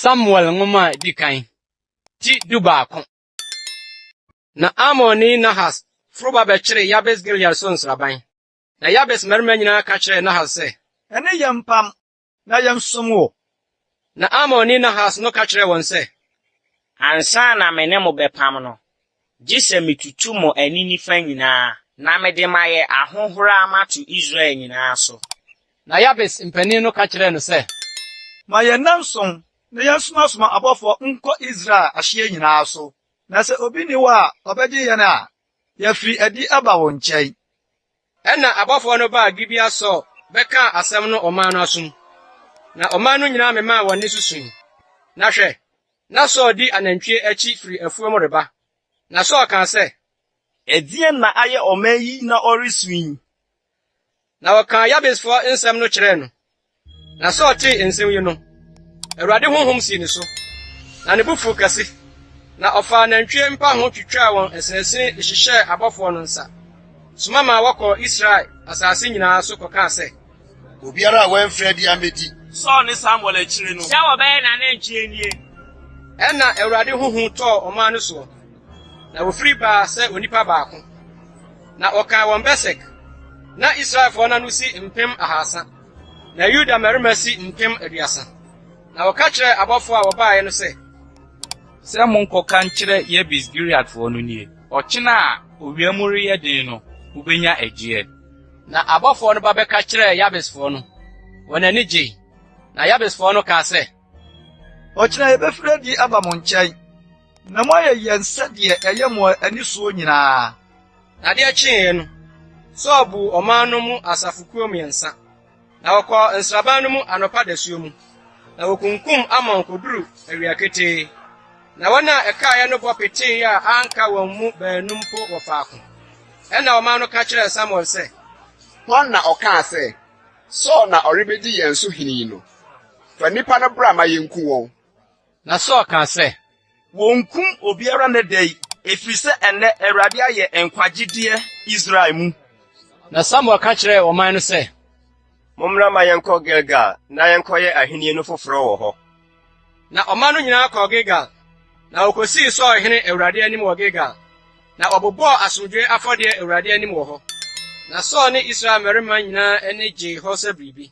Samuel nwoma a edi kan ti dubaako. Na Amonni Nahas foro ba bɛkyeree Yabes Gilead so nsraban. Na Yabes mmarima nyinaa ka kyerɛɛ Nahas sɛ, Ɛne yɛn mpam, na yɛnsom wo. Na Amonni Nahas no ka kyerɛɛ wɔn sɛ. Ansa na me ne mo bɛpam no, gye sɛ metutu mo ani nifa nyinaa, na mede mayɛ ahohora mato Israel nyinaa so. Na Yabes mpanin no ka kyerɛɛ no sɛ. Ma yɛn nnanson na yɛnsomasoma abɔfoɔ nkɔ Israel ahyeɛ nyinaa so, na sɛ obi nni hɔ a ɔbɛgye yɛn a, yɛafiri adi aba wo nkyɛn. Ɛnna abɔfoɔ no baa Gibea Saul bɛkaa asɛm no ɔman no asom, na ɔman no nyinaa memaa wɔn nne so sui. Na hwɛ! na Saul di anantwie akyi firi afuom reba. Na Saul kaa sɛ. Ɛdeɛn na ayɛ ɔman yi na ɔresu yi? Na wɔkaa Yabesfoɔ nsɛm no kyerɛɛ no, Na Saul tee nsɛm yi no, Awurade honhom sii ne so, na ne bo fuw kɛse, na ɔfaa nantwie mpa ho twitwaa wɔn asinasin de hyehyɛɛ abɔfoɔ no nsa, soma maa wɔkɔɔ Israel asase nyinaa so kɔkaa sɛ, Obiara a wɔamfrɛ biara mmɛdi. Saul ne Samuel akyiri no. Sɛ wɔbɛyɛ n'anantwie nie. Ɛnna Awurade ho hu tɔɔ ɔman no soɔ. Na wofiri baa sɛ onipa baako, na wɔkan wɔn Besek. Na Israelfoɔ no ano si mpem ahasa, na Yuda mmarima si mpem aduasa. Na wɔka kyerɛɛ abɔfoɔ a wɔbaeɛ no sɛ, Sɛ monkɔka nkyerɛ Yebes Gileadfoɔ no nie, Ɔkyena a owia mu reyɛ den no, mobɛnya ɛgyeɛ. Na abɔfoɔ no ba bɛka kyerɛɛ Yabesfoɔ no, wɔn ani gyei. Na Yabesfoɔ no kaa sɛ. Ɔkyena yɛbɛfiri adi aba mo nkyɛn. Na moayɛ yɛn sɛdeɛ ɛyɛ mo ani soɔ nyinaa. Na adeɛ kyeeɛ no, Saul buu ɔman no mu asafokuo mmiɛnsa, na wɔkɔɔ nsraban no mu anɔpa dasuo mu, na wɔkunkum Amon kɔduruu awia ketee, na wɔn a ɛkaeɛ no bɔ peteeɛ a anka wɔn mu baanu mpo wɔ faako. Ɛnna ɔman no ka kyerɛɛ Samuel sɛ. Hwan na ɔkaa sɛ, 'Saul na ɔrebɛdi yɛn so hene yi' no? Fa nnipa no bra ma yɛnku wɔn. Na Saul kaa sɛ, Wɔnkum obiara nnɛ da yi, ɛfiri sɛ ɛnnɛ Awurade ayɛ nkwagyedeɛ Israel mu. Na Samuel ka kyerɛɛ ɔman no sɛ. Mommra ma yɛnkɔ Gilgal na yɛnkɔyɛ ahennie no foforɔ wɔ hɔ. Na ɔman no nyinaa kɔɔ Gilgal, na wɔkɔsii Saul hene Awurade anim wɔ Gilgal, na wɔbobɔɔ asomdwoeɛ afɔdeɛ Awurade anim wɔ hɔ. Na Saul ne Israel mmarima nyinaa ani gyee hɔ sɛ biribi.